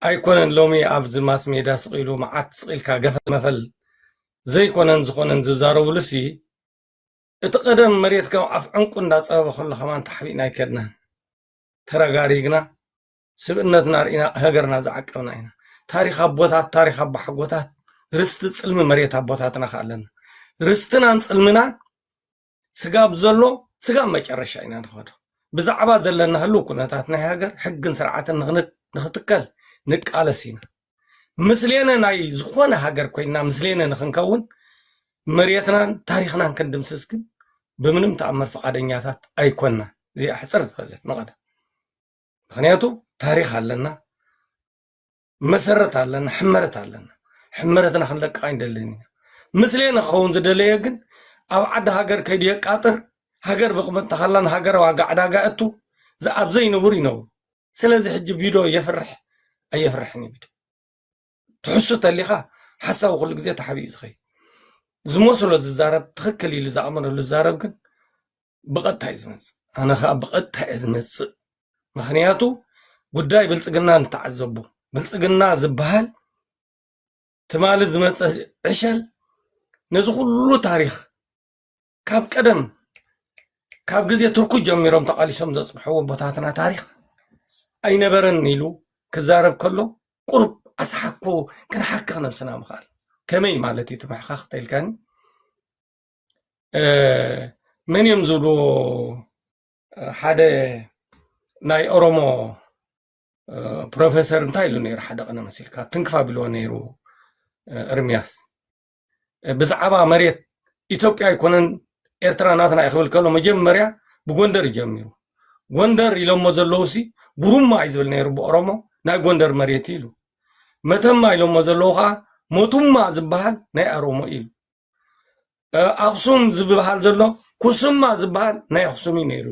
ኣይኮነን ሎሚ ኣብዚ ማስ ሜዳ ስቅ ኢሉ መዓት ስቅ ኢልካ ገፈል መፈል ዘይኮነን ዝኾነን ዝዛረብሉሲ እቲ ቀደም መሬት ከም ኣፍ ዕንቁ እንዳጸበበ ከሎ ከማን ተሓቢእና ኣይከድናን ተረጋሪግና ስብእነትና ርኢና ሃገርና ዝዓቀብና ኢና ታሪኽ ኣቦታት ታሪኽ ኣቦሓጎታት ርስቲ ጽልሚ መሬት ኣቦታትና ከኣለና ርስትናን ጽልምናን ስጋብ ዘሎ ስጋብ መጨረሻ ኢና ንኸዶ ብዛዕባ ዘለና ህልው ኩነታት ናይ ሃገር ሕግን ስርዓትን ንክትከል ንቃለስ ኢና ምስሌነ ናይ ዝኾነ ሃገር ኮይና ምስሌነ ንክንከውን መሬትናን ታሪክናን ክንድምስስ ግን ብምንም ተኣምር ፈቃደኛታት ኣይኮና እዚኣ ሕፅር ዝበለት ንቐደም ምክንያቱ ታሪክ ኣለና መሰረት ኣለና፣ ሕመረት ኣለና። ሕመረትና ክንለቅቕ ኣይንደልን ኢና። ምስሌነ ክኸውን ዝደለየ ግን ኣብ ዓዲ ሃገር ከይዱ የቃጥር፣ ሃገር ብቕመጥ ተኸላ ንሃገር ዋጋ ዕዳጋ እቱ ዝኣብ ዘይንቡር ይነብሩ። ስለዚ ሕጂ ቢዶ የፍርሕ ኣየፍርሕን እዩ ቢዶ ትሕሱ ተሊኻ ሓሳዊ ኩሉ ግዜ ተሓቢኡ ዝኸይ ዝመስሎ ዝዛረብ ትኽክል ኢሉ ዝኣመነሉ ዝዛረብ ግን ብቐጥታ እዩ ዝመፅእ ኣነ ከዓ ብቐጥታ እየ ዝመፅእ ምክንያቱ ጉዳይ ብልፅግና ንተዓዘቡ ብልፅግና ዝበሃል ትማሊ ዝመፀ ዕሸል ነዚ ኩሉ ታሪክ ካብ ቀደም ካብ ግዜ ትርኩ ጀሚሮም ተቃሊሶም ዘፅንሕዎ ቦታትና ታሪክ ኣይነበረን ኢሉ ክዛረብ ከሎ ቁርብ ኣስሓኮ ክንሓክኽ ነብስና ምኽኣል ከመይ ማለት እዩ ትምሕኻኽ ተልካኒ መን እዮም ዝብልዎ ሓደ ናይ ኦሮሞ ፕሮፌሰር እንታይ ኢሉ ነይሩ ሓደ ቀነ መሲልካ ትንክፍ ኣቢልዎ ነይሩ እርምያስ ብዛዕባ መሬት ኢትዮጵያ ኣይኮነን ኤርትራ ናትና እዩ ክብል ከሎ መጀመርያ ብጎንደር እዩ ጀሚሩ ጎንደር ኢሎሞ ዘለዉ ሲ ጉሩማ እዩ ዝብል ነይሩ ብኦሮሞ ናይ ጎንደር መሬት ኢሉ መተማ ኢሎሞ ዘለዉ ከዓ ሞቱማ ዝበሃል ናይ ኣሮሞ ኢሉ ኣክሱም ዝበሃል ዘሎ ኩስማ ዝበሃል ናይ ኣክሱም እዩ ነይሩ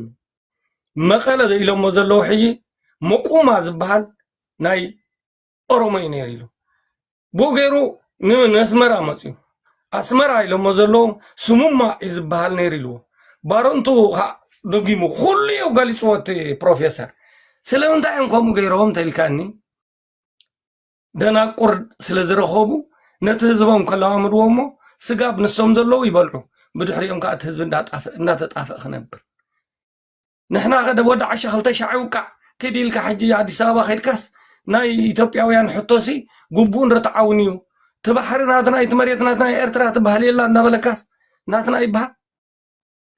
መቐለ ኢሎሞ ዘለዉ ሕጂ መቁማ ዝበሃል ናይ ኦሮሞ እዩ ነይሩ ኢሉ ብኡ ገይሩ ንኣስመራ መፅኡ ኣስመራ ኢሎሞ ዘለዉ ስሙማ እዩ ዝበሃል ነይሩ ኢልዎ ባረንቱ ከዓ ደጊሙ ኩሉ እዩ ገሊፅዎ እቲ ፕሮፌሰር ስለምንታይ እዮም ከምኡ ገይሮም ተኢልካኒ ደናቁር ስለ ዝረኸቡ ነቲ ህዝቦም ከለማምድዎ እሞ ስጋብ ንሶም ዘለዉ ይበልዑ ብድሕሪኦም ከዓ እቲ ህዝቢ እንዳጣፍእ እናተጣፍእ ክነብር ንሕና ከደ ወዲ ዓሻ ክልተ ሻዕ ይውቃዕ ክዲ ኢልካ ሕጂ ኣዲስ ኣበባ ከድካስ ናይ ኢትዮጵያውያን ሕቶሲ ግቡእን ርትዓውን እዩ እቲ ባሕሪ ናትና እቲ መሬት ናትና ኤርትራ ትበሃል የላ እንዳበለካስ ናትና ይበሃል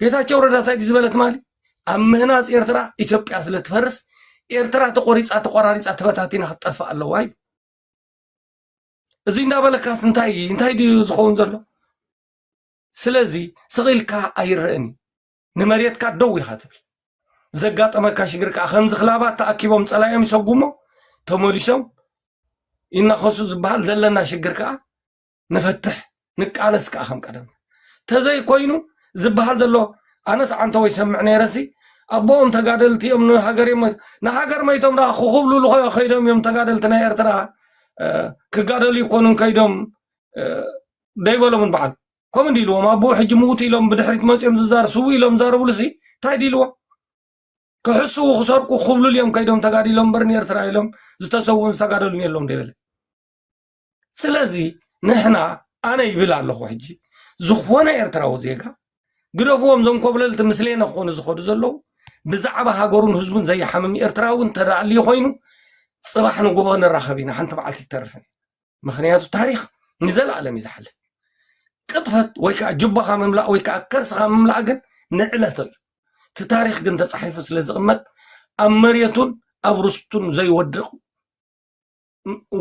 ጌታቸው ረዳ እንታይ ዝበለ ትማሊ ኣብ ምህናፅ ኤርትራ ኢትዮጵያ ስለ ትፈርስ ኤርትራ ተቆሪፃ ተቆራሪፃ ተበታቲና ክትጠፍእ ኣለዋ እዩ እዚ እንዳበለካስ እንታይ እንታይ ድዩ ዝኸውን ዘሎ ስለዚ ስቂልካ ኣይረእን እዩ ንመሬትካ ደው ኢኻ ትብል ዘጋጠመካ ሽግር ከዓ ከምዚ ክላባት ተኣኪቦም ፀላዮም ይሰጉሞ ተመሊሶም ይናኸሱ ዝበሃል ዘለና ሽግር ከዓ ንፈትሕ ንቃለስ ከዓ ከም ቀደምና ተዘይኮይኑ ዝበሃል ዘሎ ኣነስ ዓንተወይ ሰምዕ ነይረሲ ኣቦኦም ተጋደልቲ እዮም ንሃገር እዮም ሞይቶም ንሃገር መይቶም ደኣ ክኹብልሉ ኮ- ከይዶም እዮም ተጋደልቲ ናይ ኤርትራ እ፣ ክጋደሉ ይኮኑን ከይዶም እ፣ ደይበሎምን በዓል ከምኡ እንዲ ኢልዎም ኣቦኡ ሕጂ ምውት ኢሎም ብድሕሪት መፅኦም ዝዛር ስው ኢሎም ዛረብሉሲ እንታይ ድልዎ ክሕስዉ ክሰርቁ ክኹብልሉ እዮም ከይዶም ተጋዲሎም እምበር ንኤርትራ ኢሎም ዝተሰውኡን ዝተጋደሉን የለውም ደይበለ ስለዚ ንሕና ኣነ ይብል ኣለኹ ሕጂ ዝኾነ ኤርትራዊ ዜጋ ግደፍዎም ዞም ኮብለልቲ ምስሌነ ክኾኑ ዝኸዱ ዘለዉ ብዛዕባ ሃገሩን ህዝቡን ዘይሓምም ኤርትራዊ እንተዳኣልዩ ኮይኑ ፅባሕ ንግሆ ንራኸብ ኢና ሓንቲ መዓልቲ ይተርፍን ምክንያቱ ታሪክ ንዘለኣለም እዩ ዝሓልፍ ቅጥፈት ወይ ከዓ ጅባኻ ምምላእ ወይ ከዓ ከርስኻ ምምላእ ግን ንዕለቶ እዩ እቲ ታሪክ ግን ተፃሒፉ ስለ ዝቕመጥ ኣብ መሬቱን ኣብ ርስቱን ዘይወድቕ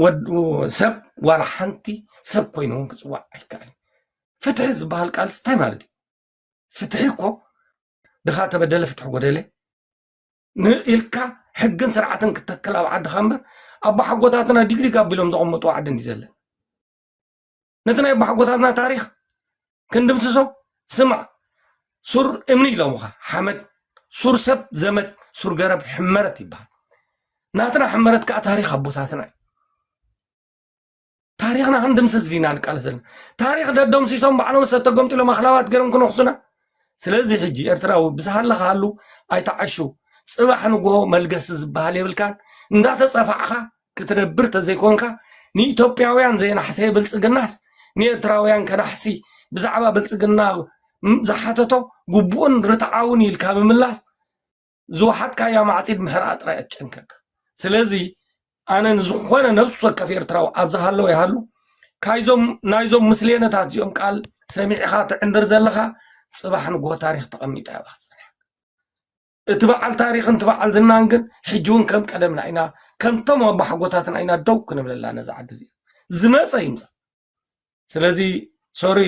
ወድ ሰብ ዋላ ሓንቲ ሰብ ኮይኑ እውን ክፅዋዕ ኣይከኣልን ፍትሒ ዝበሃል ቃልስ እንታይ ማለት እዩ ፍትሒ እኮ ድኻ ተበደለ ፍትሒ ጎደለ ንኢልካ ሕግን ስርዓትን ክተክል ኣብ ዓድኻ እምበር ኣቦሓጎታትና ዲግዲግ ኣቢሎም ዘቐመጡ ዓዲ እንዲ ዘለን ነቲ ናይ ኣቦሓጎታትና ታሪኽ ክንድምስሶ ስማዕ ሱር እምኒ ኢሎምኻ ሓመድ ሱር ሰብ ዘመድ ሱር ገረብ ሕመረት ይበሃል ናትና ሕመረት ከዓ ታሪኽ ኣቦታትና እዩ ታሪኽና ክንድምስስ ዲና ንቃለስ ዘለና ታሪኽ ደደምሲሶም ባዕሎም ዝተተገምጢሎም ኣኽላባት ገይሮም ክነኽሱና ስለዚ ሕጂ ኤርትራዊ ብዝሃለኻ ሃሉ ኣይተዓሹ ፅባሕ ንግሆ መልገሲ ዝበሃል የብልካን እንዳተፀፋዕኻ ክትነብር ተዘይኮንካ ንኢትዮጵያውያን ዘይናሕሰየ ብልፅግናስ ንኤርትራውያን ከናሕሲ ብዛዕባ ብልፅግና ዝሓተቶ ግቡእን ርትዓውን ኢልካ ምምላስ ዝወሓጥካያ ማዕፂድ ምህራእ ጥራይ ኣትጨንቀካ ስለዚ ኣነ ንዝኾነ ነብሱ ወከፍ ኤርትራዊ ኣብ ዝሃለወ ይሃሉ ካይዞም ናይዞም ምስሌነታት እዚኦም ቃል ሰሚዕኻ ትዕንድር ዘለኻ ፅባሕ ንጎ ታሪክ ተቐሚጣ እያ ባክፅንሕ እቲ በዓል ታሪኽን እቲ በዓል ዝናን ግን ሕጂ እውን ከም ቀደምና ኢና ከምቶም ኣቦሓጎታትና ኢና ደው ክንብለላ ነዚ ዓዲ እዚ ዝመፀ ይምፃእ ስለዚ ሶሪ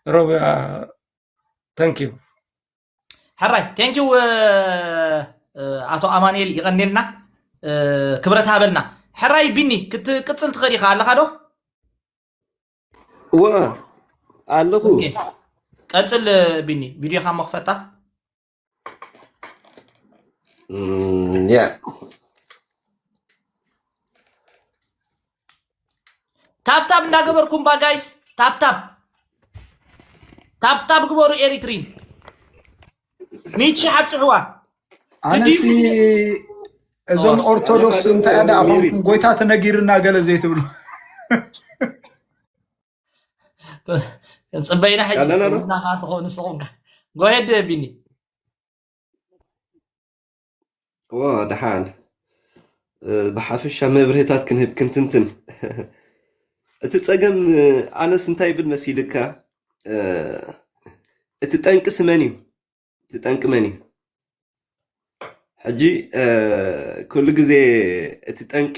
ሮብያ ተንኪዩ ሕራይ ቴንኪው ኣቶ ኣማንኤል ይቐኔልና ክብረት ሃበልና ሕራይ ቢኒ ክትቅፅል ትኽእል ኢኻ ኣለኻ ዶ ወ ኣለኹ ኦኬ። ቀፅል ቢኒ ቪድዮኻ እሞ ክፈታ Mm, yeah. ታብታብ እንዳገበርኩም ባ ጋይስ ታብታብ ታብታብ ግበሩ ኤሪትሪን ሚቺ ሓፅሕዋ ኣነሲ እዞም ኦርቶዶክስ እንታይ ኣዳ ኣኾንኩም ጎይታ ተነጊርና ገለ ዘይትብሉ ጽበይና ሕጂ ኣለና ዶ ውና ከኣ ትኾኑ ንስኹም ከ ጎየድ ቢኒ ዎ ደሓን እ፣ ብሓፈሻ መብርሂታት ክንህብ ክንትንትን እቲ ጸገም እ፣ ኣነስ እንታይ ይብል መሲልካ እ፣ እቲ ጠንቅስ መን እዩ እቲ ጠንቂ መን እዩ? ሕጂ ኩሉ ግዜ እቲ ጠንቂ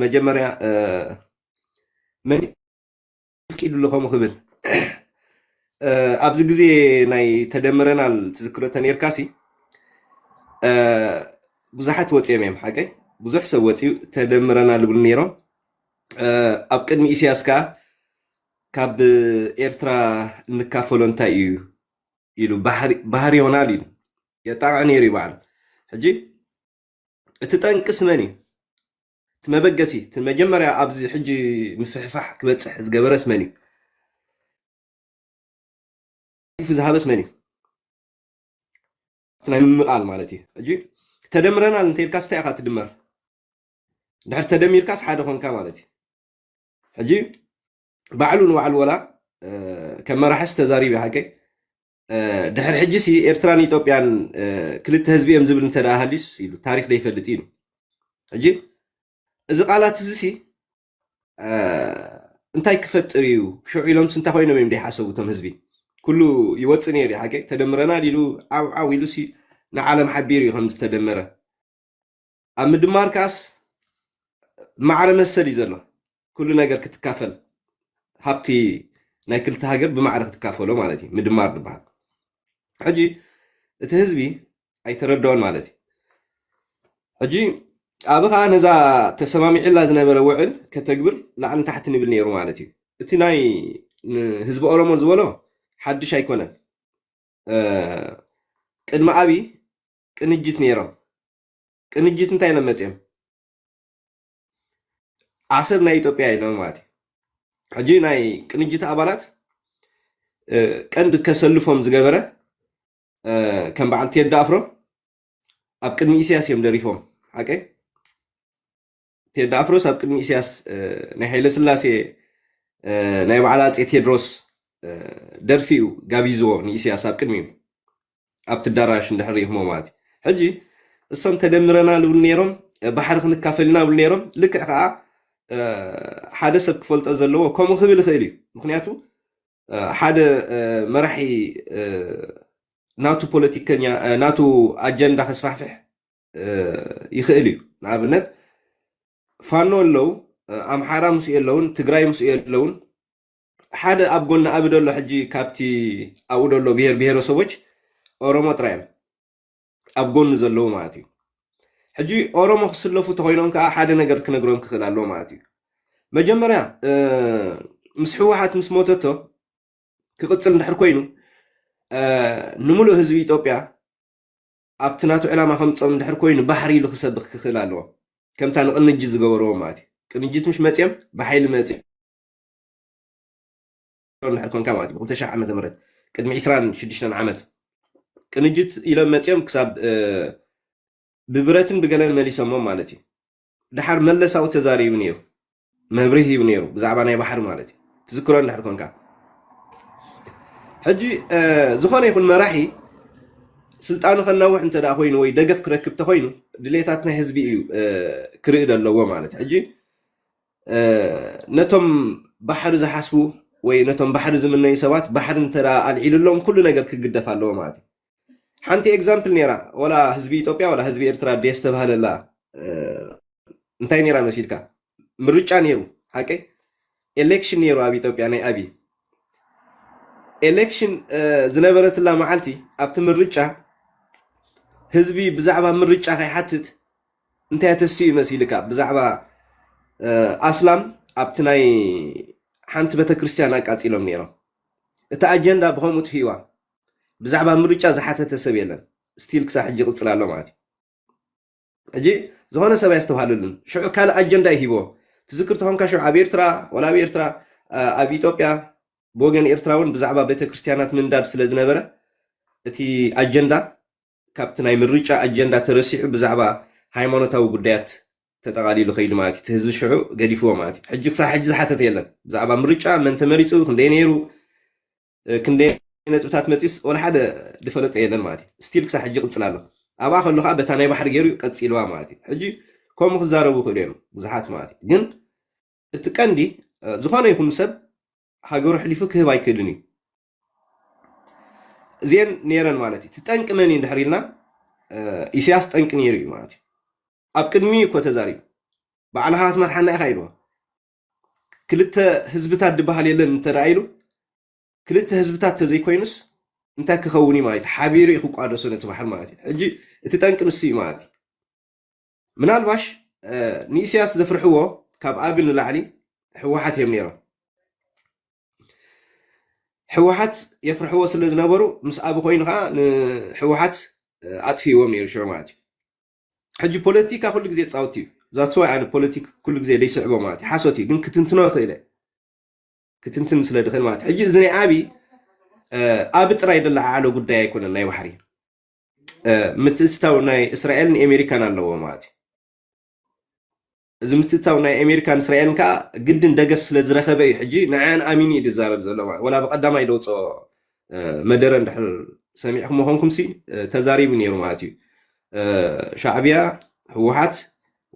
መጀመርያ መን ፍቂዱ ኣሎ ከምኡ ክብል ኣብዚ ግዜ ናይ ተደምረናል ትዝክሮ ተነርካሲ ብዙሓት ወፂኦም እዮም ሓቀይ ብዙሕ ሰብ ወፂኡ ተደምረና ልብሉ ነይሮም ኣብ ቅድሚ ኢሳያስ ከዓ ካብ ኤርትራ እንካፈሎ እንታይ እዩ ኢሉ ባህር ዮናል ኢሉ የጣቕዕ ነይሩ እዩ ባዕሉ ሕጂ እቲ ጠንቅስ መን እዩ እቲ መበገሲ እቲ መጀመርያ ኣብዚ ሕጂ ምፍሕፋሕ ክበፅሕ ዝገበረስ መን እዩ ፉ ዝሃበስ መን እዩ ናይ ምምቓል ማለት እዩ ሕጂ ተደምረናል እንተልካስ እንታይ ኢኻ ትድመር ድሕር ተደሚርካስ ሓደ ኮንካ ማለት እዩ ሕጂ ባዕሉ ንባዕሉ ወላ ከም መራሕስ ተዛሪብ ሓቀይ ድሕሪ ሕጂ ሲ ኤርትራን ኢትዮጵያን ክልተ ህዝቢ እዮም ዝብል እንተ ሃልዩስ ኢሉ ታሪክ ዘይፈልጥ እዩ ሕጂ እዚ ቃላት እዚ ሲ እንታይ ክፈጥር እዩ ሽዑ ኢሎምስ እንታይ ኮይኖም እዮም ዘይሓሰቡ እቶም ህዝቢ ኩሉ ይወፅእ ነይሩ ሓቂ ተደምረናል ኢሉ ዓውዓው ኢሉ ሲ ንዓለም ሓቢሩ እዩ ከም ዝተደመረ ኣብ ምድማር ከኣስ ማዕረ መሰል እዩ ዘሎ ኩሉ ነገር ክትካፈል ሃብቲ ናይ ክልተ ሃገር ብማዕረ ክትካፈሎ ማለት እዩ ምድማር ዝበሃል ሕጂ እቲ ህዝቢ ኣይተረድኦን ማለት እዩ ሕጂ ኣብ ከዓ ነዛ ተሰማሚዕላ ዝነበረ ውዕል ከተግብር ላዕሊ ታሕቲ ንብል ነይሩ ማለት እዩ እቲ ናይ ህዝቢ ኦሮሞ ዝበሎ ሓድሽ ኣይኮነን ቅድሚ ኣብይ ቅንጅት ነይሮም ቅንጅት እንታይ ኢሎም መፅኦም ዓሰብ ናይ ኢትዮጵያ ኢሎም ማለት እዩ ሕጂ ናይ ቅንጅት ኣባላት ቀንዲ ከሰልፎም ዝገበረ ከም በዓል ቴዲ ኣፍሮ ኣብ ቅድሚ ኢሳያስ እዮም ደሪፎም ሓቀይ ቴዲ ኣፍሮስ ኣብ ቅድሚ ኢሳያስ ናይ ሃይለ ስላሴ ናይ በዓል ኣፄ ቴድሮስ ደርፊ እዩ ጋቢዝዎ ንኢሳያስ ኣብ ቅድሚ እዩ ኣብቲ ኣዳራሽ እንድሕር ይህሞ ማለት እዩ ሕጂ እሶም ተደምረና ልብሉ ነይሮም ባሕሪ ክንካፈል ኢና ብሉ ነይሮም ልክዕ ከዓ ሓደ ሰብ ክፈልጦ ዘለዎ ከምኡ ክብል ይኽእል እዩ ምክንያቱ ሓደ መራሒ ናቱ ፖለቲከኛ ናቱ ኣጀንዳ ከስፋሕፍሕ ይኽእል እዩ ንኣብነት ፋኖ ኣለው ኣምሓራ ምስኡ የለውን ትግራይ ምስኡ የለውን ሓደ ኣብ ጎኒ ኣብ ደሎ ሕጂ ካብቲ ኣብኡ ደሎ ብሄር ብሄረሰቦች ኦሮሞ ጥራይ እዮም ኣብ ጎኒ ዘለዉ ማለት እዩ ሕጂ ኦሮሞ ክስለፉ ተኮይኖም ከዓ ሓደ ነገር ክነግሮም ክኽእል ኣለዎ ማለት እዩ መጀመርያ ምስ ህወሓት ምስ ሞተቶ ክቕፅል እንድሕር ኮይኑ ንምሉእ ህዝቢ ኢትዮጵያ ኣብቲ ናቱ ዕላማ ከምጾም እንድሕር ኮይኑ ባሕሪ ኢሉ ክሰብኽ ክኽእል ኣለዎ ከምታ ንቅንጅት ዝገበርዎ ማለት እዩ ቅንጅት ምሽ መጽኦም ብሓይሊ መጽ እንድሕር ኮንካ ማለት እዩ ብ2000 ዓመተ ምህረት ቅድሚ 26 ዓመት ቅንጅት ኢሎም መጽኦም ክሳብ ብብረትን ብገለን መሊሶሞም ማለት እዩ ደሓር መለስ ኣብኡ ተዛሪቡ ነይሩ መብርህ ሂቡ ነይሩ ብዛዕባ ናይ ባሕሪ ማለት እዩ ትዝክሮ እንድሕር ኮንካ ሕጂ ዝኾነ ይኹን መራሒ ስልጣኑ ከናውሕ እንተ ኮይኑ ወይ ደገፍ ክረክብ ተኮይኑ ድሌታት ናይ ህዝቢ እዩ ክርኢ ዘለዎ ማለት ሕጂ ነቶም ባሕሪ ዝሓስቡ ወይ ነቶም ባሕሪ ዝምነዩ ሰባት ባሕሪ እንተ ኣልዒሉሎም ኩሉ ነገር ክግደፍ ኣለዎ ማለት እዩ ሓንቲ ኤግዛምፕል ነይራ ወላ ህዝቢ ኢትዮጵያ ወላ ህዝቢ ኤርትራ ድየ ዝተባህለላ እንታይ ነይራ መሲልካ ምርጫ ነይሩ ሓቀይ ኤሌክሽን ነይሩ ኣብ ኢትዮጵያ ናይ ኣብይ ኤሌክሽን ዝነበረትላ መዓልቲ ኣብቲ ምርጫ ህዝቢ ብዛዕባ ምርጫ ከይሓትት እንታይ ተስኡ መሲልካ ብዛዕባ ኣስላም ኣብቲ ናይ ሓንቲ ቤተክርስትያን ኣቃፂሎም ነይሮም እቲ ኣጀንዳ ብከምኡ ትፍዋ ብዛዕባ ምርጫ ዝሓተተ ሰብ የለን ስቲል ክሳብ ሕጂ ይቕፅል ኣሎ ማለት እዩ ሕጂ ዝኾነ ሰብ ኣየስተብሃለሉን ሽዑ ካልእ ኣጀንዳ እዩ ሂቦ ትዝክር ተኾንካ ሽዑ ኣብ ኤርትራ ወላ ኣብ ኤርትራ ኣብ ኢትዮጵያ ብወገን ኤርትራ እውን ብዛዕባ ቤተክርስትያናት ምንዳድ ስለ ዝነበረ እቲ ኣጀንዳ ካብቲ ናይ ምርጫ ኣጀንዳ ተረሲዑ ብዛዕባ ሃይማኖታዊ ጉዳያት ተጠቓሊሉ ከይዱ ማለት እዩ እቲ ህዝቢ ሽዑ ገዲፍዎ ማለት እዩ ሕጂ ክሳብ ሕጂ ዝሓተተ የለን ብዛዕባ ምርጫ መን ተመሪፁ ክንደይ ነይሩ ክንደይ ነጥብታት መጺኡስ ወላ ሓደ ዝፈለጦ የለን ማለት እዩ ስቲል ክሳብ ሕጂ ይቅጽል ኣሎ ኣብኣ ከሎ ከዓ በታ ናይ ባሕሪ ገይሩ ቀጺልዋ ማለት እዩ ሕጂ ከምኡ ክዛረቡ ይኽእሉ እዮም ብዙሓት ማለት እዩ ግን እቲ ቀንዲ ዝኾነ ይኹን ሰብ ሃገሩ ሕሊፉ ክህብ ኣይክእልን እዩ እዚአን ነይረን ማለት እዩ ትጠንቂ መን እዩ ድሕር ኢልና ኢሳያስ ጠንቂ ነይሩ እዩ ማለት እዩ ኣብ ቅድሚ እኮ ተዛሪቡ በዓልኻ ክትመርሓና ኢኻ ኢልዎ ክልተ ህዝብታት ድበሃል የለን እንተ ኢሉ ክልተ ህዝብታት ተዘይኮይኑስ እንታይ ክኸውን እዩ ማለት እዩ ሓቢሩ እዩ ክቋደሶ ነቲ ባሕሪ ማለት እዩ ሕጂ እቲ ጠንቂ ንሱ እዩ ማለት እዩ ምናልባሽ ንኢስያስ ዘፍርሕዎ ካብ ኣብ ንላዕሊ ህወሓት እዮም ነይሮም ህወሓት የፍርሕዎ ስለ ዝነበሩ ምስ ኣብ ኮይኑ ከዓ ንህወሓት ኣጥፍዎም ነይሩ ሽዑ ማለት እዩ ሕጂ ፖለቲካ ኩሉ ግዜ ጻውቲ እዩ ዛስዋይ ኣነ ፖለቲክ ኩሉ ግዜ ዘይስዕቦ ማለት እዩ ሓሶት እዩ ግን ክትንትኖ ይኽእለ ክትንትን ስለ ድኽእል ማለት ሕጂ እዚ ናይ ኣብይ ኣብ ጥራይ ደለዓዓሎ ጉዳይ ኣይኮነን ናይ ባሕሪ ምትእትታው ናይ እስራኤልን ኣሜሪካን ኣለዎ ማለት እዩ እዚ ምትእትታው ናይ ኤሜሪካን እስራኤልን ከኣ ግድን ደገፍ ስለ ዝረኸበ እዩ ሕጂ ንዐኣን ኣሚኑ እዩ ዝዛረብ ዘሎ ማለት ወላ ብቀዳማይ ደውጽኦ መደረ እንድሕር ሰሚዕክሞ ኮንኩምሲ ተዛሪቡ ነይሩ ማለት እዩ ሻዕብያ ህወሓት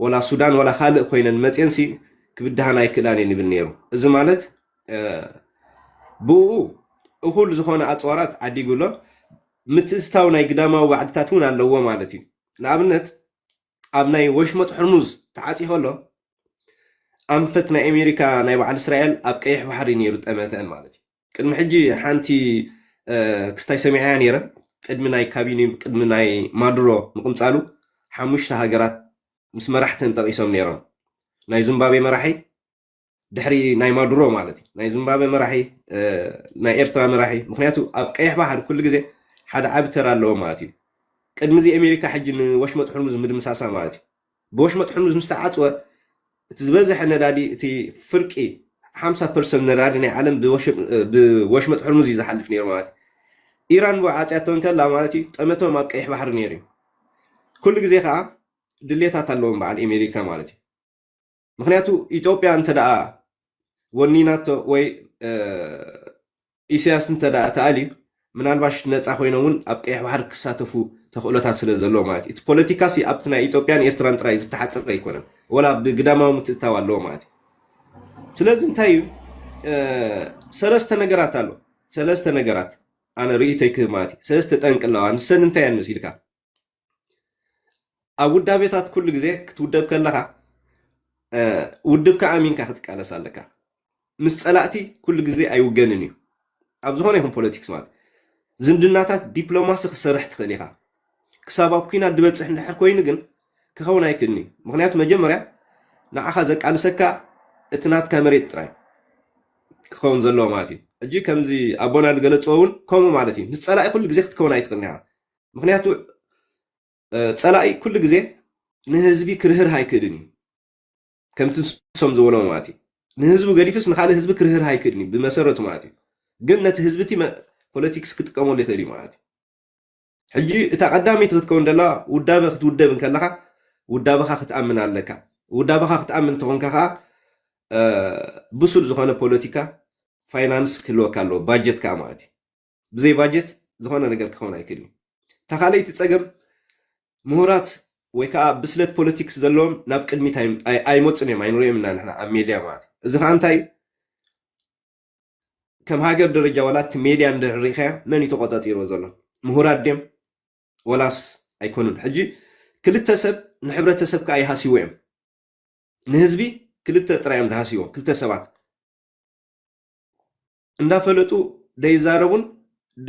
ወላ ሱዳን ወላ ካልእ ኮይነን መፅየንሲ ክብድሃን ኣይክእላን እየን ይብል ነይሩ እዚ ማለት ብኡ እኹል ዝኾነ ኣፅዋራት ዓዲጉ ኣሎ ምትእትታው ናይ ግዳማዊ ባዕድታት እውን ኣለዎ ማለት እዩ ንኣብነት ኣብ ናይ ወሽመጥ ሑርሙዝ ተዓጽዩ ከሎ ኣንፈት ናይ ኣሜሪካ ናይ በዓል እስራኤል ኣብ ቀይሕ ባሕሪ ነይሩ ጠመተን ማለት እዩ ቅድሚ ሕጂ ሓንቲ ክስታይ ሰሚዐያ ነይረ ቅድሚ ናይ ካቢኒ ቅድሚ ናይ ማዱሮ ምቕንጻሉ ሓሙሽተ ሃገራት ምስ መራሕተን ጠቒሶም ነይሮም ናይ ዙምባቤ መራሒ ድሕሪ ናይ ማዱሮ ማለት እዩ ናይ ዚምባብዌ መራሒ ናይ ኤርትራ መራሒ ምክንያቱ ኣብ ቀይሕ ባሕር ኩሉ ግዜ ሓደ ዓብ ተራ ኣለዎ ማለት እዩ ቅድሚ እዚ ኣሜሪካ ሕጂ ንወሽመጥ ሕርሙዝ ምድምሳሳ ማለት እዩ ብወሽመጥ ሕርሙዝ ምስ ተዓፅወ እቲ ዝበዝሐ ነዳዲ እቲ ፍርቂ 50 ፐርሰንት ነዳዲ ናይ ዓለም ብወሽመጥ ሕርሙዝ እዩ ዝሓልፍ ነይሩ ማለት እዩ ኢራን ብኡ ዓፅያቶ እንከላ ማለት እዩ ጠመቶም ኣብ ቀይሕ ባሕሪ ነይሩ እዩ ኩሉ ግዜ ከዓ ድሌታት ኣለዎም በዓል ኣሜሪካ ማለት እዩ ምክንያቱ ኢትዮጵያ እንተደኣ ወኒናቶ ወይ ኢሳያስ እንተደኣ ተኣልዩ ምናልባሽ ነፃ ኮይኖም እውን ኣብ ቀይሕ ባሕሪ ክሳተፉ ተኽእሎታት ስለ ዘለዎ ማለት እዩ እቲ ፖለቲካ ሲ ኣብቲ ናይ ኢትዮጵያን ኤርትራን ጥራይ ዝተሓፅረ ኣይኮነን ወላ ብግዳማዊ ምትእታው ኣለዎ ማለት እዩ ስለዚ እንታይ እዩ ሰለስተ ነገራት ኣሎ ሰለስተ ነገራት ኣነ ርእይቶይ ክህብ ማለት እዩ ሰለስተ ጠንቂ ኣለዋ ንሰን እንታይ እየን መሲልካ ኣብ ውዳቤታት ኩሉ ግዜ ክትውደብ ከለኻ ውድብካ ኣሚንካ ክትቃለስ ኣለካ ምስ ፀላእቲ ኩሉ ግዜ ኣይውገንን እዩ ኣብ ዝኾነ ይኹን ፖለቲክስ ማለት ዝምድናታት ዲፕሎማሲ ክሰርሕ ትኽእል ኢኻ ክሳብ ኣብ ኩናት ድበፅሕ እንድሕር ኮይኑ ግን ክኸውን ኣይክእልን እዩ ምክንያቱ መጀመርያ ንዓኻ ዘቃልሰካ እቲ ናትካ መሬት ጥራይ ክኸውን ዘለዎ ማለት እዩ ሕጂ ከምዚ ኣቦና ዝገለፅዎ እውን ከምኡ ማለት እዩ ምስ ፀላኢ ኩሉ ግዜ ክትከውን ኣይትኽእልን ኢኻ ምክንያቱ ፀላኢ ኩሉ ግዜ ንህዝቢ ክርህርህ ኣይክእልን እዩ ከምቲ ንሶም ዝበሎ ማለት እዩ ንህዝቢ ገዲፍስ ንካልእ ህዝቢ ክርህርህ ኣይክእልን እዩ ብመሰረቱ ማለት እዩ ግን ነቲ ህዝቢ እቲ ፖለቲክስ ክጥቀመሉ ይኽእል እዩ ማለት እዩ ሕጂ እታ ቀዳመይቲ ክትከውን ደላ ውዳበ ክትውደብ እንከለካ ውዳበኻ ክትኣምን ኣለካ ውዳበኻ ክትኣምን ተኾንካ ከዓ ብሱል ዝኾነ ፖለቲካ ፋይናንስ ክህልወካ ኣለዎ ባጀት ከዓ ማለት እዩ ብዘይ ባጀት ዝኾነ ነገር ክኸውን ኣይክእልን እዩ እታ ካልኣይቲ ፀገም ምሁራት ወይ ከዓ ብስለት ፖለቲክስ ዘለዎም ናብ ቅድሚት ኣይመፁን እዮም ኣይንሪኦም ኢና ንሕና ኣብ ሜድያ ማለት እዩ እዚ ከዓ እንታይ እዩ ከም ሃገር ደረጃ ዋላ እቲ ሜድያ እንድሕር ሪኢኻያ መን እዩ ተቆፃፂርዎ ዘሎ ምሁራት ድዮም ወላስ ኣይኮኑን ሕጂ ክልተ ሰብ ንሕብረተሰብ ከዓ ይሃስይዎ እዮም ንህዝቢ ክልተ ጥራይ እዮም ዝሃስይዎ ክልተ ሰባት እንዳፈለጡ ደይዛረቡን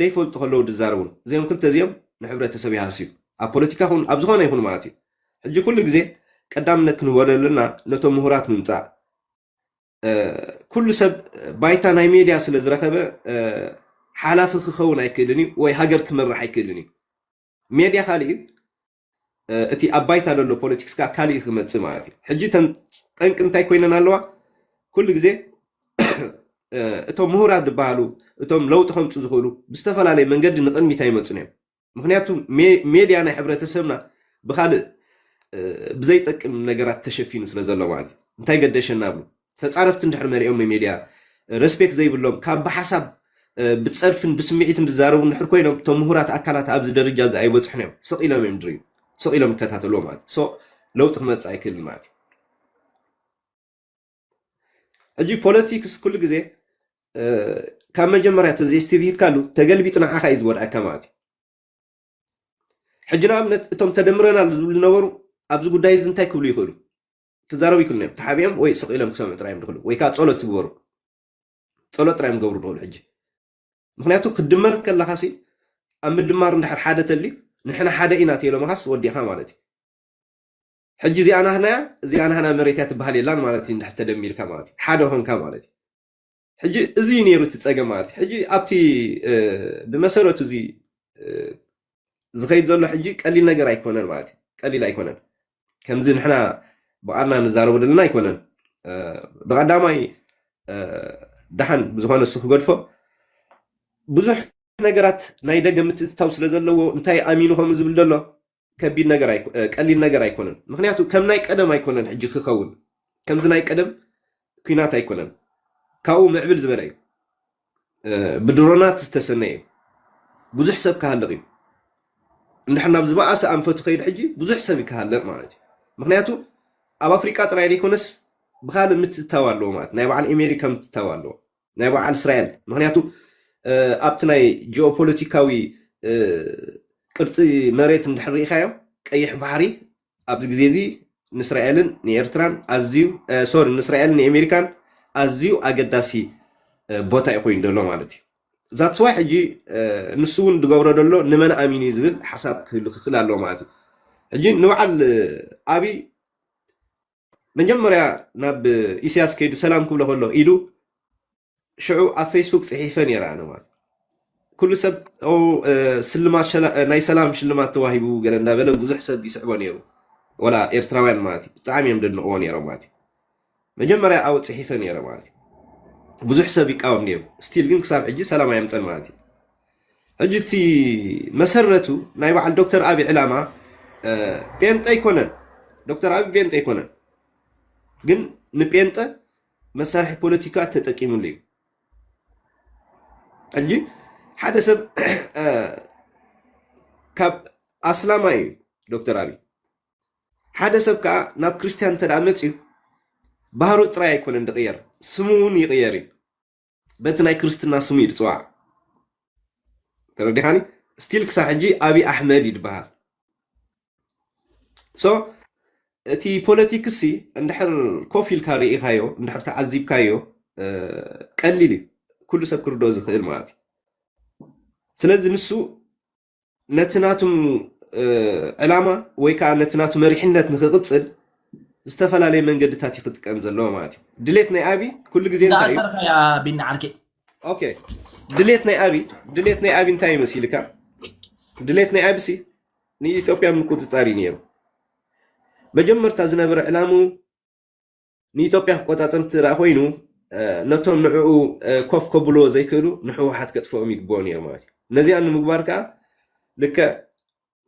ደይፈልጡ ከለዉ ድዛረቡን እዚኦም ክልተ እዚኦም ንሕብረተሰብ ይሃስዩ ኣብ ፖለቲካ ኹን ኣብ ዝኾነ ይኹን ማለት እዩ ሕጂ ኩሉ ግዜ ቀዳምነት ክንህቦ ዘለና ነቶም ምሁራት ምምጻእ ኩሉ ሰብ ባይታ ናይ ሜድያ ስለ ዝረኸበ ሓላፊ ክኸውን ኣይክእልን እዩ ወይ ሃገር ክመራሕ ኣይክእልን እዩ ሜድያ ካልእ እዩ እቲ ኣብ ባይታ ዘሎ ፖለቲክስ ከኣ ካልእ እዩ ክመጽእ ማለት እዩ። ሕጂ እተን ጠንቂ እንታይ ኮይነን ኣለዋ? ኩሉ ግዜ እቶም ምሁራት ዝበሃሉ እቶም ለውጢ ከምጹ ዝኽእሉ ብዝተፈላለየ መንገዲ ንቕድሚት ኣይመጹን እዮም። ምክንያቱ ሜድያ ናይ ሕብረተሰብና ብካልእ ብዘይጠቅም ነገራት ተሸፊኑ ስለ ዘሎ ማለት እዩ። እንታይ ገደሸና እብሉ። ተጻረፍቲ እንድሕር መሊኦም ሚሜድያ ረስፔክት ዘይብሎም ካብ ብሓሳብ ብጸርፍን ብስሚዒትን ዝዛረቡ እንድሕር ኮይኖም እቶም ምሁራት ኣካላት ኣብዚ ደረጃ እዚ ኣይበጽሑን እዮም ስቕ ኢሎም እዮም ድርዩ ስቕ ኢሎም ይከታተልዎ ማለት እዩ ሶ ለውጢ ክመጽእ ኣይክእልን ማለት እዩ ሕጂ ፖለቲክስ ኩሉ ግዜ ካብ መጀመርያ ተዘይስትብሂልካሉ ተገልቢጡ ንዓኻ እዩ ዝጎድኣካ ማለት እዩ ሕጂ ንኣብነት እቶም ተደምረናል ዝብሉ ዝነበሩ ኣብዚ ጉዳይ እዚ እንታይ ክብሉ ይኽእሉ ክዛረቡ ይክእሉን እዮም ተሓቢኦም ወይ ስቕ ኢሎም ክሰምዑ ጥራይ እዮም ዝኽእሉ ወይ ከዓ ጸሎት ትግበሩ ጸሎት ጥራይ እዮም ገብሩ ዝኽእሉ ሕጂ ምክንያቱ ክድመር ከለካ ሲ ኣብ ምድማር እንድሕር ሓደ ተልዩ ንሕና ሓደ ኢና ተኢሎምኻስ ወዲኻ ማለት እዩ ሕጂ እዚኣ ናህናያ እዚኣ ናህና መሬት እያ ትበሃል የላን ማለት እዩ እንድሕር ተደሚርካ ማለት እዩ ሓደ ኮንካ ማለት እዩ ሕጂ እዚ እዩ ነይሩ እቲ ፀገም ማለት እዩ። ሕጂ ኣብቲ ብመሰረቱ እዚ ዝኸይድ ዘሎ ሕጂ ቀሊል ነገር ኣይኮነን ማለት እዩ። ቀሊል ኣይኮነን ከምዚ ንሕና ብቃልና ንዛረቦ ዘለና ኣይኮነን። ብቀዳማይ ደሓን ብዝኾነ እሱ ክገድፎ ብዙሕ ነገራት ናይ ደገ ምትእትታው ስለ ዘለዎ እንታይ ኣሚኑ ከምኡ ዝብል ዘሎ ከቢድ ነገር ኣይኮ- እ፣ ቀሊል ነገር ኣይኮነን ምክንያቱ ከም ናይ ቀደም ኣይኮነን ሕጂ ክኸውን ከምዚ ናይ ቀደም ኩናት ኣይኮነን ካብኡ ምዕብል ዝበለ እዩ እ፣ ብድሮናት ዝተሰነየ እዩ ብዙሕ ሰብ ክሃልቕ እዩ እንድሕር ናብ ዝበኣሰ ኣንፈቱ ከይድ ሕጂ ብዙሕ ሰብ ይክሃልቕ ማለት እዩ ምክንያቱ ኣብ ኣፍሪቃ ጥራይ ዘይኮነስ ብካልእ ምትእትታው ኣለዎ ማለት ናይ በዓል ኣሜሪካ ምትእትታው ኣለዎ ናይ በዓል እስራኤል ምክንያቱ ኣብቲ ናይ ጂኦፖለቲካዊ ቅርፂ መሬት እንድሕር ርኢኻዮ ቀይሕ ባሕሪ ኣብዚ ግዜ እዚ ንእስራኤልን ንኤርትራን ኣዝዩ ሶሪ ንእስራኤልን ንኣሜሪካን ኣዝዩ ኣገዳሲ ቦታ እዩ ኮይኑ ዘሎ ማለት እዩ ዛት ስዋይ ሕጂ ንሱ እውን ዝገብሮ ዘሎ ንመን ኣሚኑ እዩ ዝብል ሓሳብ ክህሉ ክኽእል ኣለዎ ማለት እዩ ሕጂ ንበዓል ኣብይ መጀመርያ ናብ ኢሳያስ ከይዱ ሰላም ክብሎ ከሎ ኢሉ ሽዑ ኣብ ፌስቡክ ፅሒፈ ነይረ ኣነ ማለት ኩሉ ሰብ ስልማት ናይ ሰላም ሽልማት ተዋሂቡ ገለ እንዳበለ ብዙሕ ሰብ ይስዕቦ ነይሩ ወላ ኤርትራውያን ማለት እዩ ብጣዕሚ እዮም ደንቕዎ ነይሮም ማለት እዩ መጀመርያ ኣብኡ ፅሒፈ ነይረ ማለት እዩ ብዙሕ ሰብ ይቃወም ነይሩ ስቲል ግን ክሳብ ሕጂ ሰላም ኣየምፀን ማለት እዩ ሕጂ እቲ መሰረቱ ናይ በዓል ዶክተር ኣቢ ዕላማ ጴንጠ ኣይኮነን። ዶክተር ኣቢ ጴንጠ ኣይኮነን፣ ግን ንጴንጠ መሳርሒ ፖለቲካ ተጠቂምሉ እዩ። ሕጂ ሓደ ሰብ ካብ ኣስላማይ እዩ ዶክተር ኣብይ ሓደ ሰብ ከዓ ናብ ክርስትያን እንተ መፅዩ ባህሩ ጥራይ ኣይኮነን ዝቕየር ስሙ እውን ይቕየር እዩ በቲ ናይ ክርስትና ስሙ እዩ ዝፅዋዕ ተረዲኻኒ ስቲል ክሳብ ሕጂ ኣብይ ኣሕመድ እዩ ዝበሃል ሶ እቲ ፖለቲክሲ እንድሕር ኮፍ ኢልካ ርኢኻዮ እንድሕር ተዓዚብካዮ እ፣ ቀሊል እዩ ኩሉ ሰብ ክርድኦ ዝኽእል ማለት እዩ ስለዚ ንሱ ነቲ ናቱ ዕላማ ወይ ከዓ ነቲ ናቱ መሪሕነት ንክቕፅል ዝተፈላለየ መንገድታት እዩ ክጥቀም ዘለዎ ማለት እዩ ድሌት ናይ ኣብይ ኩሉ ግዜ እንታይ እዩ እንዳኣሰርካ እያ ቢኒ ዓርኪ ኦኬ ድሌት ናይ ኣብይ ድሌት ናይ ኣብይ እንታይ ይመስልካ ድሌት ናይ ኣብሲ ንኢትዮጵያ ምቁፅፃር እዩ ነይሩ መጀመርታ ዝነበረ ዕላምኡ ንኢትዮጵያ ክቆጻጸር እንተደኣ ኮይኑ ነቶም ንዕኡ ኮፍ ከብልዎ ዘይክእሉ ንሕወሓት ከጥፍኦም ይግብኦ ነይሩ ማለት እዩ። ነዚኣ ንምግባር ከኣ ልክዕ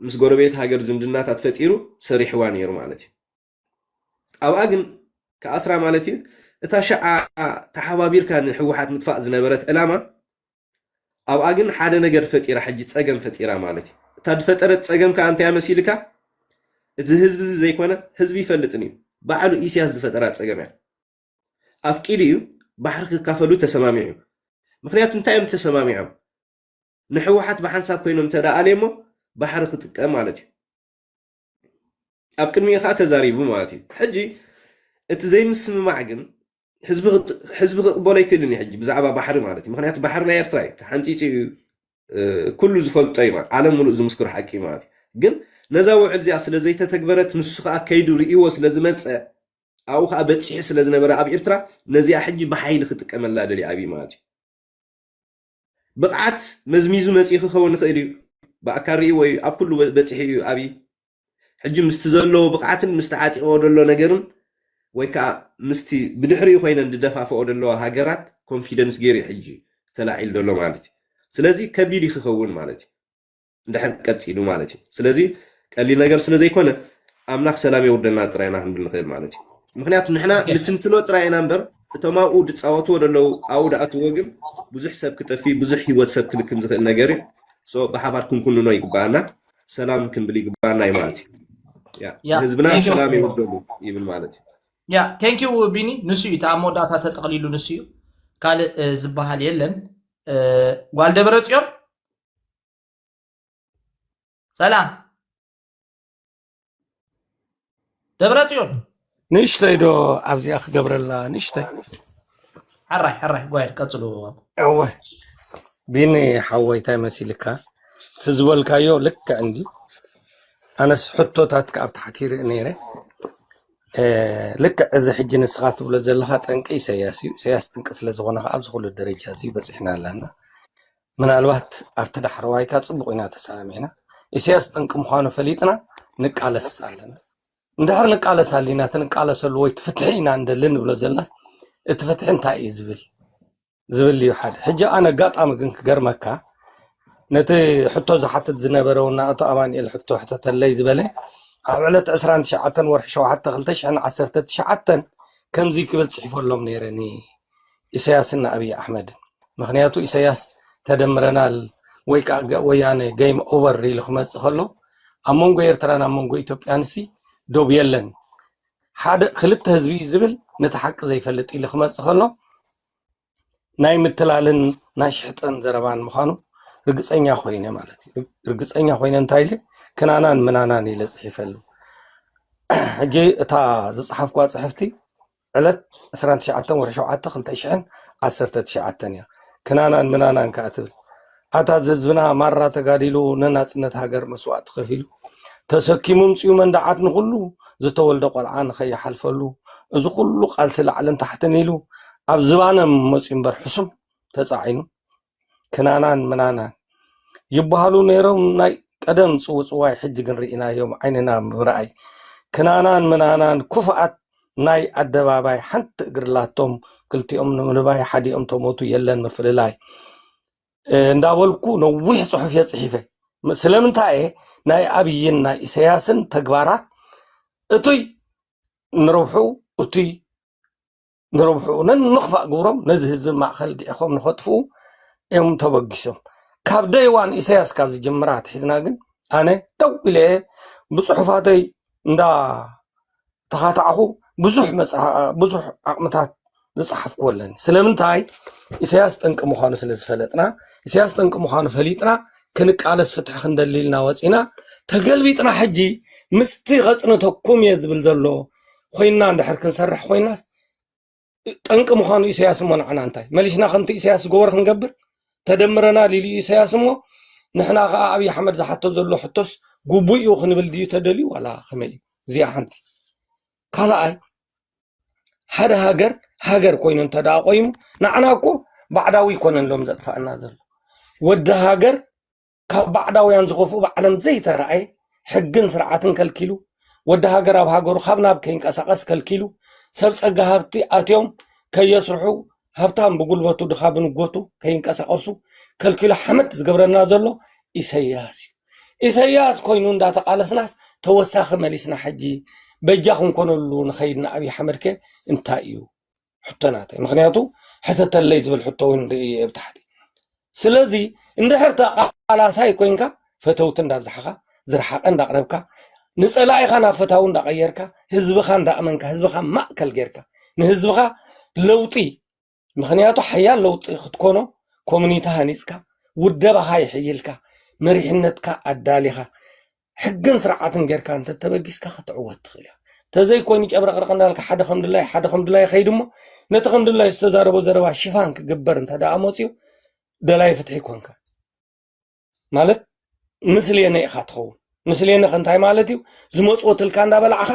ምስ ጎረቤት ሃገር ዝምድናታት ፈጢሩ ሰሪሕዋ ነይሩ ማለት እዩ። ኣብኣ ግን ክኣስራ ማለት እዩ እታ ሽዓ ተሓባቢርካ ንሕወሓት ምጥፋእ ዝነበረት ዕላማ ኣብኣ ግን ሓደ ነገር ፈጢራ ሕጂ ጸገም ፈጢራ ማለት እዩ እታ ዝፈጠረት ጸገም ከኣ እንታይ መሲልካ እዚ ህዝቢ እዚ ዘይኮነ ህዝቢ ይፈልጥን እዩ ባዕሉ ኢሳያስ ዝፈጠራ ጸገም እያ ኣፍቂዱ እዩ ባሕሪ ክካፈሉ ተሰማሚዑ እዩ ምክንያቱ እንታይ እዮም ተሰማሚዖም ንሕወሓት ብሓንሳብ ኮይኖም ተደኣልየ እሞ ባሕሪ ክጥቀም ማለት እዩ ኣብ ቅድሚኡ ከኣ ተዛሪቡ ማለት እዩ። ሕጂ እቲ ዘይምስምማዕ ግን ህዝቢ ክቕበሎ ኣይክእልን እዩ ሕጂ ብዛዕባ ባሕሪ ማለት እዩ። ምክንያቱ ባሕሪ ናይ ኤርትራ እዩ ተሓንጺጹ እዩ ኩሉ ዝፈልጦ እዩ ማለት ዓለም ሙሉእ ዝምስክሮ ሓቂ እዩ ማለት እዩ። ግን ነዛ ውዕል እዚኣ ስለ ዘይተተግበረት ንሱ ከኣ ከይዱ ርእይዎ ስለ ዝመጸ ኣብኡ ከኣ በጺሑ ስለ ዝነበረ ኣብ ኤርትራ ነዚኣ ሕጂ ብሓይሊ ክጥቀመላ ደልዩ ኣብይ ማለት እዩ። ብቕዓት መዝሚዙ መጺኡ ክኸውን ይኽእል እዩ። ብኣካል ርእይዎ እዩ፣ ኣብ ኩሉ በጺሑ እዩ ኣብይ። ሕጂ ምስቲ ዘለዎ ብቕዓትን ምስቲ ዓጢቕዎ ዘሎ ነገርን ወይ ከኣ ምስቲ ብድሕሪኡ ኮይነን ዝደፋፍኦ ዘለዋ ሃገራት ኮንፊደንስ ገይሩ እዩ ሕጂ ተላዒሉ ዘሎ ማለት እዩ። ስለዚ ከቢድ እዩ ክኸውን ማለት እዩ። ድሕር ቀጺሉ ማለት እዩ። ስለዚ ቀሊል ነገር ስለ ዘይኮነ ኣምላኽ ሰላም የውርደልና ጥራይ ኢና ክንብል ንኽእል ማለት እዩ። ምክንያቱ ንሕና ንትንትኖ ጥራይ ኢና እምበር እቶም ኣብኡ ድጻወትዎ ደለዉ ኣብኡ ድኣትዎ ግን ብዙሕ ሰብ ክጠፊ ብዙሕ ህይወት ሰብ ክልክም ዝኽእል ነገር እዩ። ሶ ብሓባር ክንኩንኖ ይግባኣና ሰላም ክንብል ይግባኣና እዩ ማለት እዩ። ያ ያ፣ ህዝብና thank you። ሰላም የውርደሉ ይብል ማለት እዩ። ያ ቴንክ ዩ ቢኒ ንሱ እዩ እቲ ኣብ መወዳእታ ተጠቕሊሉ ንሱ እዩ ካልእ እ፣ ዝበሃል የለን እ፣ ጓል ደብረ ጽዮን ሰላም ደብረ ጽዮን ንእሽተይ ዶ ኣብዚኣ ክገብረላ ንእሽተይ ሕራይ ሕራይ ጓይድ ቀፅሉ እወ ቢኒ ሓወይ እንታይ መሲልካ እቲ ዝበልካዮ ልክዕ እንዲ ኣነስ ሕቶታት ካብ ታሕቲ ይርኢ ነይረ ልክዕ እዚ ሕጂ ንስኻ ትብሎ ዘለካ ጠንቂ ኢሰያስ እዩ ኢሰያስ ጠንቂ ስለዝኾነ ከዓ ኣብዚ ኩሉ ደረጃ እዚ በፂሕና ኣለና ምናልባት ኣብቲ ዳሕረዋይካ ጽቡቕ ኢና ተሰማሚዕና፣ ኢሰያስ ጠንቂ ምዃኑ ፈሊጥና ንቃለስ ኣለና። እንድሕር ንቃለስ ኣሊና እቲ ንቃለሰሉ ወይ እቲ ፍትሒ ኢና እንደሊ ንብሎ ዘልናስ እቲ ፍትሒ እንታይ እዩ ዝብል ዝብል እዩ ሓደ ሕጂ ኣነ ኣጋጣሚ ግን ክገርመካ ነቲ ሕቶ ዝሓትት ዝነበረ ውና ኣቶ ኣማንኤል ሕቶ ሕተተለይ ዝበለ ኣብ ዕለት 29 ወርሒ 7 219 ከምዚ ክብል ጽሒፈሎም ነይረኒ ኢሰያስን ንኣብይ ኣሕመድን ምክንያቱ ኢሰያስ ተደምረናል ወይ ከኣ ወያነ ገይም ኦቨር ኢሉ ክመጽእ ከሎ ኣብ መንጎ ኤርትራን ኣብ መንጎ ኢትዮጵያንሲ ዶብ የለን ሓደ ክልተ ህዝቢ እዩ ዝብል ነቲ ሓቂ ዘይፈልጥ ኢሉ ክመጽእ ከሎ ናይ ምትላልን ናይ ሽሕጥን ዘረባን ምዃኑ ርግፀኛ ኮይነ ማለት እዩ ርግፀኛ ኮይነ እንታይ ኢለ ክናናን ምናናን ኢለ ፅሒፈሉ ሕጂ እታ ዝፅሓፍኳ ፅሕፍቲ ዕለት ዕስራን ትሽዓተን ወርሒ ሸውዓተ ክልተ ሽሕን ዓሰርተ ትሽዓተን እያ ክናናን ምናናን ከኣ ትብል ኣታ ዝህዝብና ማራ ተጋዲሉ ንናጽነት ሃገር መስዋእቲ ከፊሉ ተሰኪሙ ምጽኡ መንዳዓት ንኹሉ ዝተወልደ ቆልዓ ንኸይሓልፈሉ እዚ ኩሉ ቃልሲ ላዕልን ታሕትን ኢሉ ኣብ ዝባነ መጽዩ እምበር ሕሱም ተጻዒኑ ክናናን ምናናን ይብሃሉ ነይሮም ናይ ቀደም ጽውጽዋይ ሕጂ ግን ርኢናዮም ዓይንና ብምርኣይ ክናናን ምናናን ኩፍኣት ናይ ኣደባባይ ሓንቲ እግሪ ላቶም ክልቲኦም ንምንባይ ሓዲኦም ተሞቱ የለን ምፍልላይ እንዳበልኩ ነዊሕ ጽሑፍ እየ ጽሒፈ ስለምንታይ እየ ናይ ኣብይን ናይ ኢሰያስን ተግባራት እቱይ ንረብሑ እቱይ ንረብሕኡ ነንኽፋእ ግብሮም ነዚ ህዝቢ ማእኸል ግዒኾም ንኸጥፍኡ እዮም ተበጊሶም። ካብ ደይ ዋን ኢሳያስ ካብ ዝጅምር ኣትሒዝና ግን ኣነ ደው ኢለ እየ ብፅሑፋተይ እንዳ ተኻታዕኹ ብዙሕ ብዙሕ ዓቕምታት ዝፀሓፍኩዎ ኣለኒ። ስለምንታይ ኢሳያስ ጠንቂ ምዃኑ ስለ ዝፈለጥና ኢሳያስ ጠንቂ ምዃኑ ፈሊጥና ክንቃለስ ፍትሒ ክንደሊ ኢልና ወፂና ተገልቢጥና ሕጂ ምስቲ ከፅንተኩም እየ ዝብል ዘሎ ኮይንና እንድሕር ክንሰርሕ ኮይናስ ጠንቂ ምዃኑ ኢሳያስ እሞ ንዓና እንታይ መሊስና ከምቲ ኢሳያስ ዝገበሮ ክንገብር ተደምረናል ኢሉ ኢሳያስ እሞ ንሕና ከዓ ኣብዪ ኣሕመድ ዝሓቶ ዘሎ ሕቶስ ግቡእ እዩ ክንብል ድዩ ተደልዩ ዋላ ከመይ እዩ እዚኣ ሓንቲ ካልኣይ ሓደ ሃገር ሃገር ኮይኑ እንተ ደኣ ቆይሙ ንዓና እኮ ባዕዳዊ ይኮነን ሎም ዘጥፋእና ዘሎ ወዲ ሃገር ካብ ባዕዳውያን ዝኸፍኡ ብዓለም ዘይተራእየ ሕግን ስርዓትን ከልኪሉ ወዲ ሃገር ኣብ ሃገሩ ካብ ናብ ከይንቀሳቐስ ከልኪሉ ሰብ ጸጋ ሃብቲ ኣትዮም ከየስርሑ ሃብታም ብጉልበቱ ድኻ ብንጎቱ ከይንቀሳቐሱ ከልኪሉ ሓመድ ዝገብረና ዘሎ ኢሰያስ እዩ ኢሰያስ ኮይኑ እንዳተቓለስናስ ተወሳኺ መሊስና ሕጂ በጃ ክንኮነሉ ንኸይድና ኣብዪ ሓመድከ እንታይ እዩ ሕቶ ናተይ ምክንያቱ ሕተተለይ ዝብል ሕቶ እውን ንርኢ ኣብ ታሕቲ ስለዚ እንድሕር ተቃላሳይ ኮይንካ ፈተውቲ እንዳብዛሕኻ ዝረሓቐ እንዳቕረብካ ንፀላኢኻ ናብ ፈታዊ እንዳቐየርካ ህዝብኻ እንዳእመንካ ህዝብኻ ማእከል ጌርካ ንህዝብኻ ለውጢ ምክንያቱ ሓያል ለውጢ ክትኮኖ ኮሚኒቲ ሃኒፅካ ውደባኻ ይሕይልካ መሪሕነትካ ኣዳሊኻ ሕግን ስርዓትን ጌርካ እንተተበጊስካ ክትዕወት ትኽእል ኢኻ ተዘይኮይኑ ጨብረቕረቕ እንዳልካ ሓደ ከም ድላይ ሓደ ከም ድላይ ከይድ እሞ ነቲ ከም ድላይ ዝተዛረቦ ዘረባ ሽፋን ክግበር እንተ ደኣ መፅኡ ደላይ ፍትሒ ኮንካ ማለት ምስልየነ ኢኻ ትኸውን ምስልየነ ከንታይ ማለት እዩ ዝመፅወትልካ እንዳበላዕኻ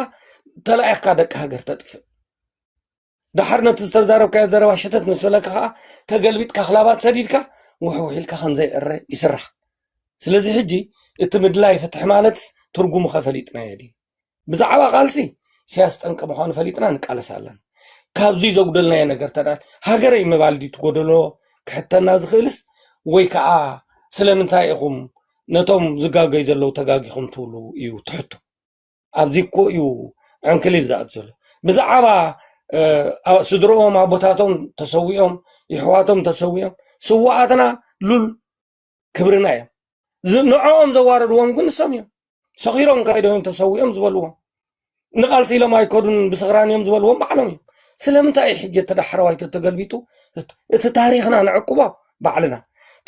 ተላኢኽካ ደቂ ሃገር ተጥፍእ ድሓር ነቲ ዝተዛረብካዮ ዘረባ ሸተት ምስ በለካ ከዓ ተገልቢጥካ ክላባት ሰዲድካ ውሕውሕ ኢልካ ከምዘይዕረ ይስራሕ ስለዚ ሕጂ እቲ ምድላይ ፍትሒ ማለትስ ትርጉሙ ከ ፈሊጥናዮ ድዩ ብዛዕባ ቃልሲ ኢሳያስ ጠንቂ ምዃኑ ፈሊጥና ንቃለስ ኣለና ካብዚ ዘጉደልናዮ ነገር ተዳ ሃገረይ ምባል ድዩ ትጎደሎ ክሕተና ዝኽእልስ ወይ ከዓ ስለምንታይ ኢኹም ነቶም ዝጋገዩ ዘለዉ ተጋጊኹም ትብሉ እዩ ትሕቶ ኣብዚ እኮ እዩ ዕንክሊል ዝኣት ዘሎ ብዛዕባ ስድርኦም ኣቦታቶም ተሰዊኦም ይሕዋቶም ተሰዊኦም ስዋኣትና ሉል ክብርና እዮም ንዕኦም ዘዋረድዎም ግን ንሶም እዮም ሰኺሮም ካይዶም ተሰዊኦም ዝበልዎም ንቓልሲ ኢሎም ኣይከዱን ብስኽራን እዮም ዝበልዎም ባዕሎም እዮም ስለምንታይ እዩ ሕጂ ተዳሕረዋይ ተተገልቢጡ እቲ ታሪኽና ንዕቅቦ ባዕልና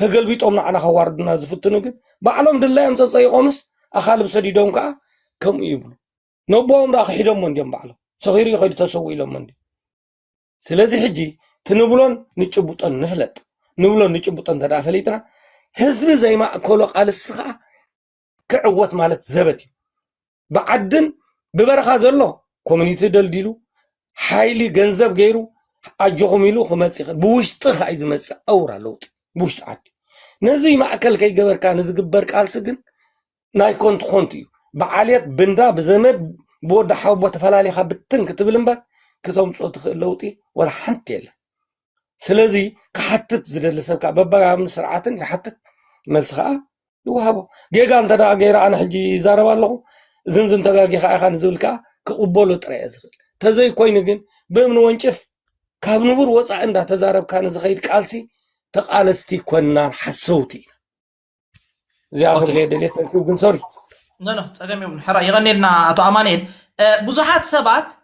ተገልቢጦም ንዓና ከዋርዱና ዝፍትኑ ግን ባዕሎም ድላዮም ፀፀይቆምስ ኣኻልብ ሰዲዶም ከዓ ከምኡ ይብሉ ነቦኦም ዳኣ ክሒዶሞ እንዲዮም ባዕሎም ሰኺሩ ይኸዱ ተሰው ኢሎሞ እንዲዮም ስለዚ ሕጂ ትንብሎን ንጭቡጦን ንፍለጥ ንብሎን ንጭቡጦን እንተደኣ ፈሊጥና ህዝቢ ዘይማእከሎ ቃልሲ ከዓ ክዕወት ማለት ዘበት እዩ ብዓድን ብበረኻ ዘሎ ኮሚኒቲ ደልዲሉ ሓይሊ ገንዘብ ገይሩ ኣጆኹም ኢሉ ክመፅእ ይኽእል ብውሽጢ ከዓ እዩ ዝመፅእ ኣውራ ለውጢ ብውሽጢ ዓዲ ነዚ ማእከል ከይገበርካ ንዝግበር ቃልሲ ግን ናይ ኮንቱ ኮንቱ እዩ ብዓልየት ብንዳ ብዘመድ ብወዲ ሓወቦ ተፈላሊኻ ብትን ክትብል እምበር ክተምፅኦ ትኽእል ለውጢ ወላ ሓንቲ የለን ስለዚ ክሓትት ዝደሊ ሰብ ከዓ በባያምን ስርዓትን ይሓትት መልሲ ከዓ ይወሃቦ ጌጋ እንተ ገይረ ኣነ ሕጂ ይዛረብ ኣለኹ እዝንዝን ተጋጊኻ ኢኻ ንዝብል ከዓ ክቕበሎ ጥራይ እየ ዝኽእል ተዘይኮይኑ ግን ብእምኒ ወንጭፍ ካብ ንቡር ወፃኢ እንዳተዛረብካ ንዝኸይድ ቃልሲ ተቃለስቲ ኮናን ሓሰውቲ ኢና እዚኣ ክብለ ደልየት ግን ሶሪ ኖ ኖ ፀገም የብሉ ሕራ የቐኔልና ኣቶ ኣማንኤል ብዙሓት ሰባት